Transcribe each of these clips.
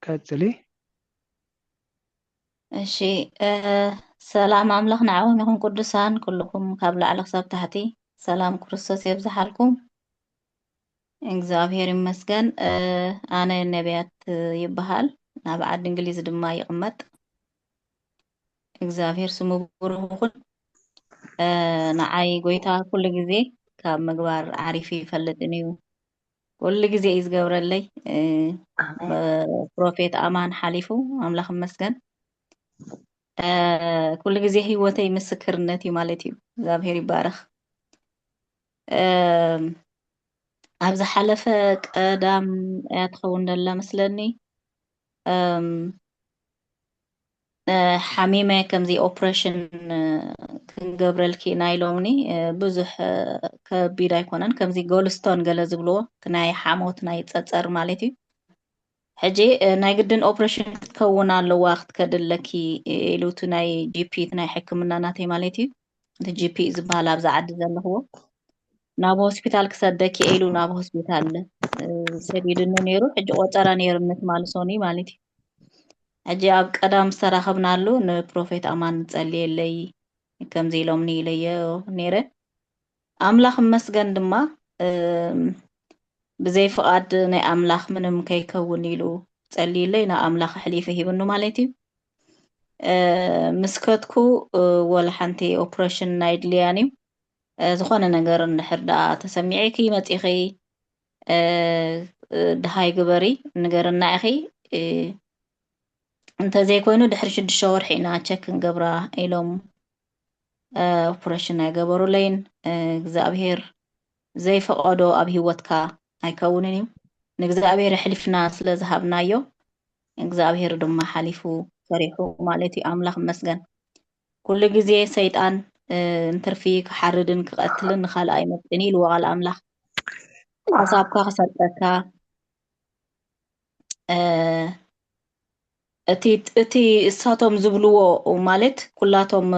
ቀጽሊ። እሺ ሰላም ኣምላኽ ንዓኹም ይኹን ቅዱሳን ኩልኹም ካብ ላዕሊ ክሳብ ታሕቲ ሰላም ክርስቶስ የብዝሓልኩም። እግዚኣብሔር ይመስገን። ኣነ ነቢያት ይበሃል ናብ ዓዲ እንግሊዝ ድማ ይቕመጥ። እግዚኣብሔር ስሙ ብሩኽ ይኹን። እ፣ ንዓይ ጎይታ ኩሉ ግዜ ካብ ምግባር ዓሪፊ ይፈልጥን እዩ ኩሉ ግዜ እዩ ዝገብረለይ እ፣ ኣሜን ብፕሮፌት ኣማን ሓሊፉ ኣምላኽ ይመስገን እ፣ ኩሉ ግዜ ህይወተይ ምስክርነት እዩ ማለት እዩ እግዚኣብሔር ይባረኽ እ፣ ኣብ ዝሓለፈ ቀዳም እያ ትኸውን ዘላ መስለኒ እም፣ ሓሚመ ከምዚ ኦፕረሽን ክንገብረልኪ ኢና ኢሎምኒ ብዙሕ ከቢድ ኣይኮነን ከምዚ ጎልስቶን ገለ ዝብልዎ ናይ ሓሞት ናይ ፀፀር ማለት እዩ ሕጂ ናይ ግድን ኦፕረሽን ክትከውን ኣለዋ ክትከዲ ኣለኪ ኢሉ እቲ ናይ ጂፒ እቲ ናይ ሕክምና ናተይ ማለት እዩ እቲ ጂፒ ዝበሃል ኣብዚ ዓዲ ዘለኽዎ ናብ ሆስፒታል ክሰደኪ ኢሉ ናብ ሆስፒታል ሰዲድኒ ነይሩ ሕጂ ቆፀራ ነይሩ ንትማልሶኒ ማለት እዩ ሕጂ ኣብ ቀዳም ዝተራኸብናሉ ንፕሮፌት ኣማን ጸልየለይ ከምዚ ኢሎምኒ ኢለዮ ኔረ ኣምላኽ ይመስገን ድማ ብዘይ ፍቓድ ናይ ኣምላኽ ምንም ከይከውን ኢሉ ጸልዩለይ ናብ ኣምላኽ ኣሕሊፉ ሂብኑ ማለት እዩ ምስ ከትኩ ወላ ሓንቲ ኦፕሬሽን ኣይድልያን እዩ ዝኾነ ነገር እንድሕር ደኣ ተሰሚዒኪ መጺኺ ደሃይ ግበሪ ንገርና ኢኺ እንተዘይኮይኑ ድሕሪ ሽዱሽተ ወርሒ ኢና ቸክ ክንገብራ ኢሎም ኦፕሬሽን ኣይገበሩለይን እግዚኣብሄር ዘይፈቐዶ ኣብ ሂወትካ ኣይከውንን እዩ ንእግዚኣብሄር ኣሕሊፍና ስለ ዝሃብናዮ እግዚኣብሄር ድማ ሓሊፉ ሰሪሑ ማለት እዩ ኣምላኽ መስገን ኩሉ ግዜ ሰይጣን እንትርፊ ክሓርድን ክቐትልን ንኻልእ ኣይመጥን እዩ ኢልዎ ቃል ኣምላኽ ሓሳብካ ክሰርቀካ እቲ እሳቶም ዝብልዎ ማለት ኩላቶም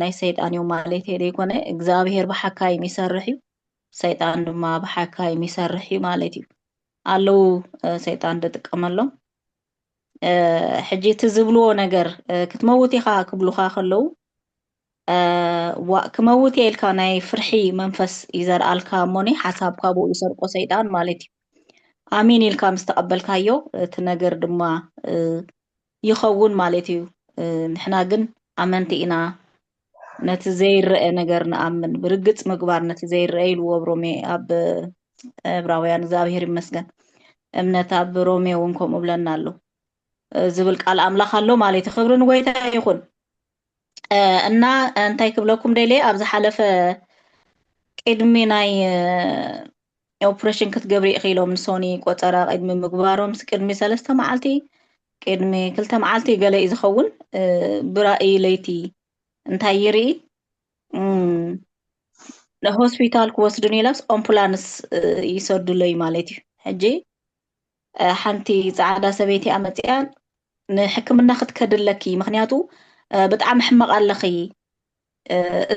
ናይ ሰይጣን እዮም ማለት ዘይኮነ እግዚኣብሄር ብሓካይም ይሰርሕ እዩ ሰይጣን ድማ ብሓካይም ይሰርሕ እዩ ማለት እዩ ኣለዉ ሰይጣን ዝጥቀመሎም ሕጂ እቲ ዝብልዎ ነገር ክትመውት ኢኻ ክብሉኻ ከለዉ ዋእ ክመውት እየ ኢልካ ናይ ፍርሒ መንፈስ ይዘርኣልካ እሞኒ ሓሳብ ካብኡ ይሰርቆ ሰይጣን ማለት እዩ ኣሚን ኢልካ ምስ ተቐበልካዮ እቲ ነገር ድማ ይኸውን ማለት እዩ ንሕና ግን ኣመንቲ ኢና ነቲ ዘይረአ ነገር ንኣምን ብርግፅ ምግባር ነቲ ዘይረአ ኢልዎ ኣብ ሮሜ ኣብ ዕብራውያን እግዚኣብሔር ይመስገን እምነት ኣብ ሮሜ እውን ከምኡ ብለና ኣሎ ዝብል ቃል ኣምላኽ ኣሎ ማለት ክብሪ ንጎይታ ይኹን እና እንታይ ክብለኩም ደልየ ኣብ ዝሓለፈ ቅድሚ ናይ ኦፕረሽን ክትገብሪ ኢኺ ኢሎምኒ ሶኒ ቆጸራ ቅድሚ ምግባሮምስ ቅድሚ ሰለስተ መዓልቲ ቅድሚ ክልተ መዓልቲ ገለ እዩ ዝኸውን ብራእይ ለይቲ እንታይ ይርኢ ሆስፒታል ክወስዱኒ ኢላስ ኣምፑላንስ ይሰዱለይ ማለት እዩ ሕጂ ሓንቲ ፃዕዳ ሰበይቲ ኣመፅያ ንሕክምና ክትከድለኪ ምክንያቱ ብጣዕሚ ሕመቕ ኣለኺ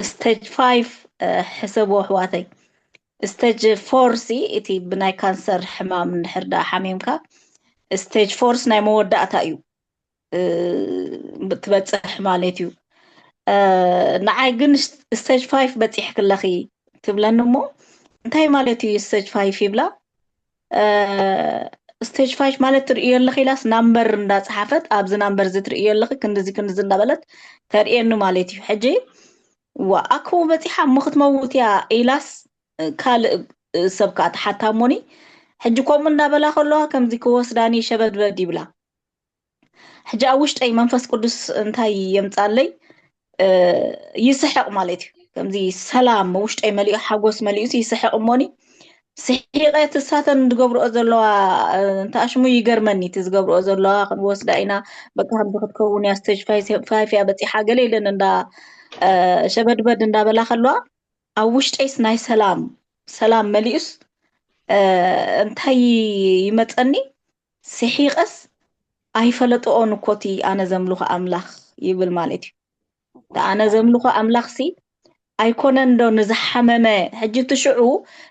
እስተጅ ፋይፍ ሕሰቡ ኣሕዋተይ እስተጅ ፎርሲ እቲ ብናይ ካንሰር ሕማም እንድሕር ዳኣ ሓሚምካ እስተጅ ፎርስ ናይ መወዳእታ እዩ ትበፅሕ ማለት እዩ ንዓይ ግን እስተጅ ፋይፍ በፂሕክለኺ ትብለኒ እሞ እንታይ ማለት እዩ እስተጅ ፋይፍ ይብላ ስቴጅ ፋይፍ ማለት ትርእዮ ኣለኺ ኢላስ ናምበር እንዳፀሓፈት ኣብዚ ናምበር እዚ ትርእዮ ኣለኺ ክንድዚ ክንድዚ እንዳበለት ተርእየኒ ማለት እዩ ሕጂ ዋ ኣኮ በፂሓ እሞ ክትመውት እያ ኢላስ ካልእ ሰብ ከዓ ተሓታ እሞኒ ሕጂ ከምኡ እንዳበላ ከለዋ ከምዚ ክወስዳኒ ሸበድበድ ይብላ ሕጂ ኣብ ውሽጠይ መንፈስ ቅዱስ እንታይ የምጻለይ ይስሕቕ ማለት እዩ ከምዚ ሰላም ውሽጠይ መሊኡ ሓጎስ መሊኡ ይስሕቕ እሞኒ ስሒቐ ትሳተን ዝገብርኦ ዘለዋ እንተኣሽሙ ይገርመኒ እቲ ዝገብርኦ ዘለዋ ክንወስዳ ኢና በቃ ከምዚ ክትከውን እያ ስተጅ ፋይፍ እያ በፂሓ ገለ ኢለን እንዳ ሸበድበድ እንዳበላ ከለዋ ኣብ ውሽጠይስ ናይ ሰላም ሰላም መሊኡስ እንታይ ይመፀኒ ሲሒቀስ ኣይፈለጥኦን እኮ እቲ ኣነ ዘምልኾ ኣምላኽ ይብል ማለት እዩ እቲ ኣነ ዘምልኾ ኣምላኽሲ ኣይኮነን ዶ ንዝሓመመ ሕጂ እቲ ሽዑ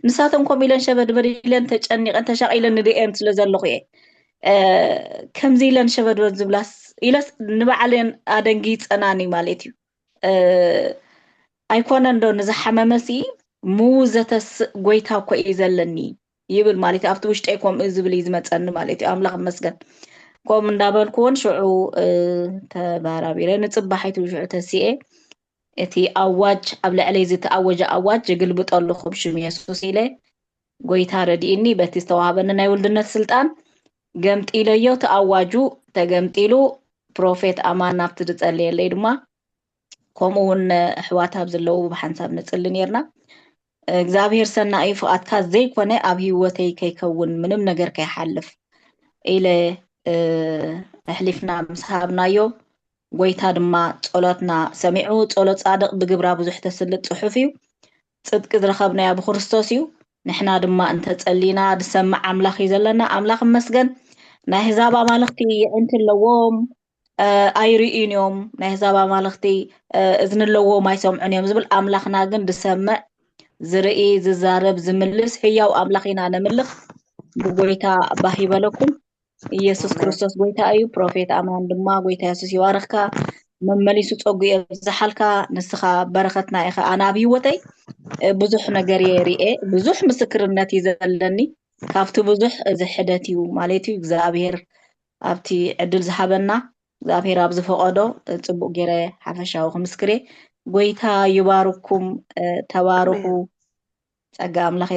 ንሳተን ኮም ኢለን ሸበድበድ ኢለን ተጨኒቐን ተሻቒለን ንድኤን ስለ ዘለኹ እየ ከምዚ ኢለን ሸበድበድ ዝብላስ ኢለስ ንባዕለን ኣደንጊፀናን እዩ ማለት እዩ ኣይኮነን ዶ ንዝሓመመሲ ምውዘተስእ ጎይታ እኮ እዩ ዘለኒ ይብል ማለት እዩ ኣብቲ ውሽጠይ ከምኡ ዝብል እዩ ዝመፀኒ ማለት እዩ ኣምላኽ ይመስገን ከምኡ እንዳበልኩ እውን ሽዑ እ፣ ተባራቢረ ንፅባሒቱ ሽዑ ተሲኤ እቲ ኣዋጅ ኣብ ልዕለይ ዝተኣወጀ ኣዋጅ ይግልብጦ ኣለኹ ብሽም የሱስ ኢለ ጎይታ ረድኢኒ በቲ ዝተዋህበኒ ናይ ውልድነት ስልጣን ገምጢለዮ እቲ ኣዋጁ ተገምጢሉ ፕሮፌት ኣማን ናብቲ ዝፀለየለይ ድማ ከምኡ እውን ኣሕዋት ኣብ ዘለዉ ብሓንሳብ ንፅሊ ነርና እግዝኣብሄር ሰናዩ ፍቃድካ ዘይኮነ ኣብ ሂወተይ ከይከውን ምንም ነገር ከይሓልፍ ኢለ ኣሕሊፍና ምስ ሃብናዮ ጎይታ ድማ ጸሎትና ሰሚዑ ጸሎት ጻድቅ ብግብራ ብዙሕ ተስልጥ ጽሑፍ እዩ ጽድቂ ዝረከብናዮ ኣብ ክርስቶስ እዩ ንሕና ድማ እንተጸሊና ዝሰምዕ ኣምላኽ እዩ ዘለና ኣምላኽ መስገን ናይ ህዛብ ኣማልኽቲ የዒንቲ ኣለዎም ኣይርእዩን እዮም፣ ናይ ኣህዛብ ኣማልኽቲ እዝኒ ኣለዎም ኣይሰምዑን እዮም ዝብል፣ ኣምላኽና ግን ዝሰምዕ ዝርኢ ዝዛረብ ዝምልስ ሕያው ኣምላኽ ኢና ነምልኽ። ብጎይታ ባህ ይበለኩም። ኢየሱስ ኣሜን ክርስቶስ ጎይታ እዩ። ፕሮፌት ኣማን ድማ ጎይታ የሱስ ይባርኽካ፣ መመሊሱ ጸጉ የብዝሓልካ። ንስኻ በረኸትና ኢኻ። ኣነ ኣብ ህይወተይ እ፣ ብዙሕ ነገር እየ ርኤ፣ ብዙሕ ምስክርነት እዩ ዘለኒ። ካብቲ ብዙሕ እዚ ሕደት እዩ ማለት እዩ። እግዚኣብሔር ኣብቲ ዕድል ዝሃበና እግዝኣብሄር ኣብ ዝፈቀዶ ጽቡቅ ጌረ ሓፈሻዊ ክምስክር እየ ጎይታ ይባርኩም ተባርኩ ጸጋ ኣምላኽ